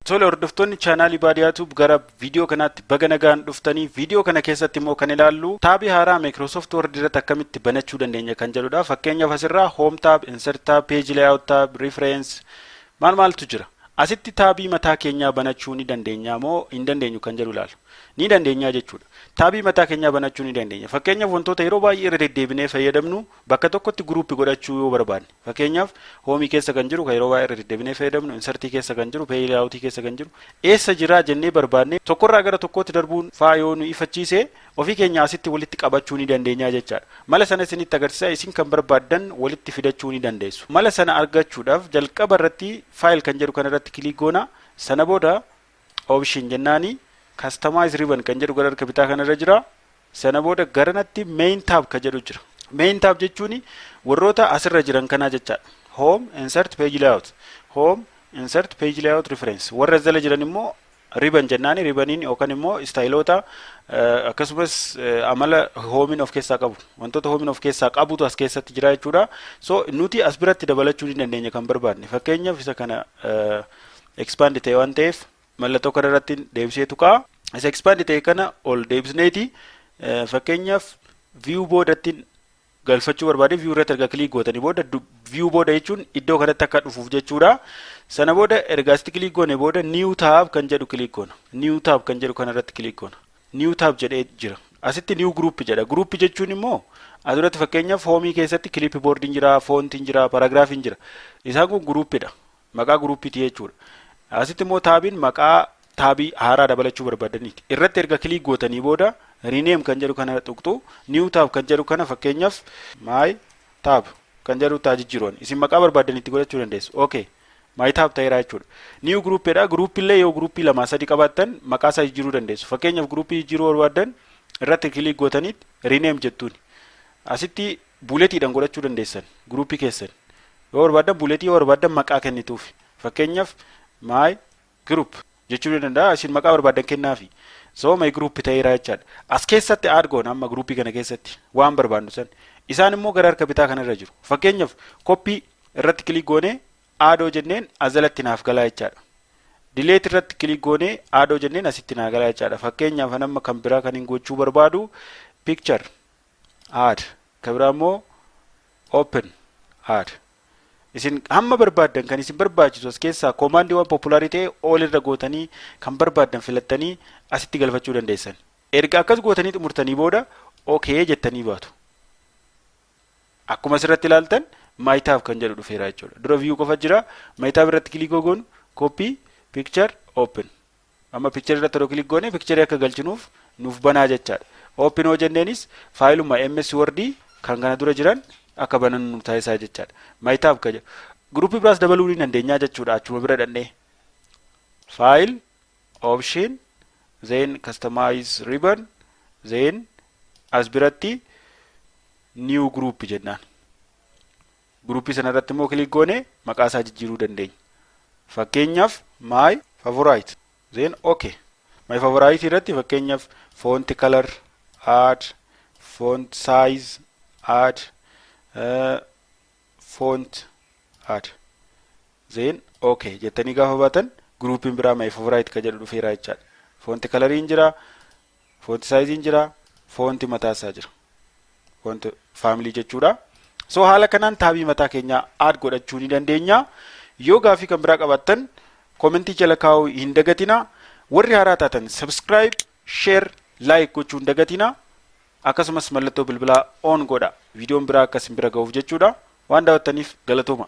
Tole hordoftoonni chaanaalii Baadiyaa Tuub gara viidiyoo kanaatti baga nagaan dhuftanii viidiyoo kana keessatti immoo kan ilaallu taabii haaraa Microsoft Word irratti akkamitti banachuu dandeenya kan jedhudha. Fakkeenyaaf asirraa Home Tab, Insert Tab, Page Layout Tab, Reference maal maaltu jira. Asitti taabii mataa keenyaa banachuu ni dandeenya moo hin dandeenyu kan jedhu ilaalu. Ni dandeenya jechuudha. Taabii mataa keenyaa banachuu ni dandeenya. Fakkeenyaaf wantoota yeroo baay'ee irra deddeebinee fayyadamnu bakka tokkotti guruupi godhachuu yoo barbaanne. Fakkeenyaaf, Home keessa kan jiru, kan yeroo baay'ee irra deddebinee fayyadamnu, Insert keessa kan jiru, Page Layout keessa kan jiru, eessa jira jennee barbaadnee tokkorraa gara tokkootti darbuun faa yoo nu ifachiise, ofii keenya asitti walitti qabachuu ni dandeenya jechaadha. Mala sana isinitti agarsiisa, isin kan barbaaddan walitti fidachuu ni dandeessu. Mala sana argachuudhaaf jalqaba irratti File kan jedhu kana irratti click goona, sana booda Option jennaani Customize Ribbon kan jedhu gara harka bitaa kana irra jira, Sana booda garanatti main tab ka jedhu jira. Main tab jechuun warroota asirra jiran kanaa jechaadha. Home, insert page layout. Home, insert page layout reference. Warra as jala jiran immoo riban jennaani ribaniin yookaan immoo istaayiloota eh, akkasumas eh, amala hoomiin of keessaa qabu. Wantoota hoomiin of keessaa qabutu as keessatti jira jechuudha. So nuti as biratti dabalachuu ni dandeenya kan barbaadne. Fakkeenyaaf isa kana eh, expand ta'e waan ta'eef Mallattoo kana irratti deebisee tuqaa. Isa expand ta'e kana ol deebisneeti fakkeenyaaf view boodattiin galfachuu barbaade view irratti erga click gootanii booda view booda jechuun iddoo kanatti akka dhufuuf jechuudha. Sana booda erga asitti click goone booda new tab kan jedhu click goona. New tab kan jedhu kana irratti click goona. New tab jedhee jira. Asitti new group jedha. Group jechuun immoo asirratti fakkeenyaaf hoomii keessatti clipboard hin jira, font hin jira, paragraph hin jira. Isaan kun group dha. Maqaa guruupiiti jechuudha. Asitti immoo taabiin maqaa taabii haaraa dabalachuu barbaadaniiti. Irratti erga kiliik gootanii booda rename kan jedhu kana tuqxu new tab kan jedhu kana fakkeenyaaf my tab kan jedhu taa jijjiiruun isin maqaa barbaadanitti godhachuu dandeessu. Okay. My tab ta'eera jechuudha. New group dha. Group illee yoo groupii lamaa sadi qabaattan maqaa isaa jijjiiruu dandeessu. Fakkeenyaaf groupii jijjiiruu barbaaddan irratti kiliik gootanii rename jettuuni. Asitti buuletiidhan godhachuu dandeessan guruupii keessan yoo barbaaddan buuletii yoo barbaaddan maqaa kennituuf fakkeenyaaf my group jechuu ni danda'a isin maqaa barbaaddan kennaafi so my group ta'eera jechaadha as keessatti aad goona amma guruupii kana keessatti waan barbaannu san isaan immoo gara harka bitaa kanarra jiru fakkeenyaaf koppii irratti kilik goonee aadoo jenneen as jalatti naaf galaa jechaadha dileet irratti kilik goonee aadoo jenneen asitti naa galaa jechaadha fakkeenyaaf an amma kan biraa kan hin gochuu barbaadu picture add ka biraa immoo open add isin hamma barbaaddan kan isin barbaachisu as keessaa koomaandii waan populaarii ta'e all irra gootanii kan barbaaddan filattanii asitti galfachuu dandeessan erga akkas gootanii xumurtanii booda ok jettanii baatu akkuma asirratti ilaaltan maayitaaf kan jedhu dhufeera jechuudha dura viyuu qofa jira maayitaaf irratti kilikoo goonu koppii picture open Amma picture irratti yeroo click goone picture akka galchinuuf nuuf banaa jechaadha. Open hoo jenneenis faayiluma MS Word kan kana dura jiran akka banannu nu taasisaa jechaadha. My tab ka jedhu. Group biraas dabaluu ni dandeenyaa jechuudha achuma bira dhannee. File, option, then customize ribbon, then as biratti new group jennaan. Group sana irratti immoo click goone maqaa isaa jijjiiruu dandeenya. Fakkeenyaaf my favorite then ok. My favorite irratti fakkeenyaaf font color add font size add uh, font add then ok jettanii gaafa baatan groupiin biraa my favorite ka jedhu dhufeera jechaadha. Font coloriin jira Foonti saayiziin jira, foonti mataa isaa jira. Foonti faamilii jechuudha. So haala kanaan taabii mataa keenyaa aad godhachuu ni dandeenya. Yoo gaafii kan biraa qabaattan komentii jala kaa'uu hin dagatina. Warri haaraa taatan subscribe, share, like gochuu hin dagatina. Akkasumas mallattoo bilbilaa on godha. Viidiyoon biraa akka isin bira ga'uuf jechuudha. Waan daawwattaniif galatooma.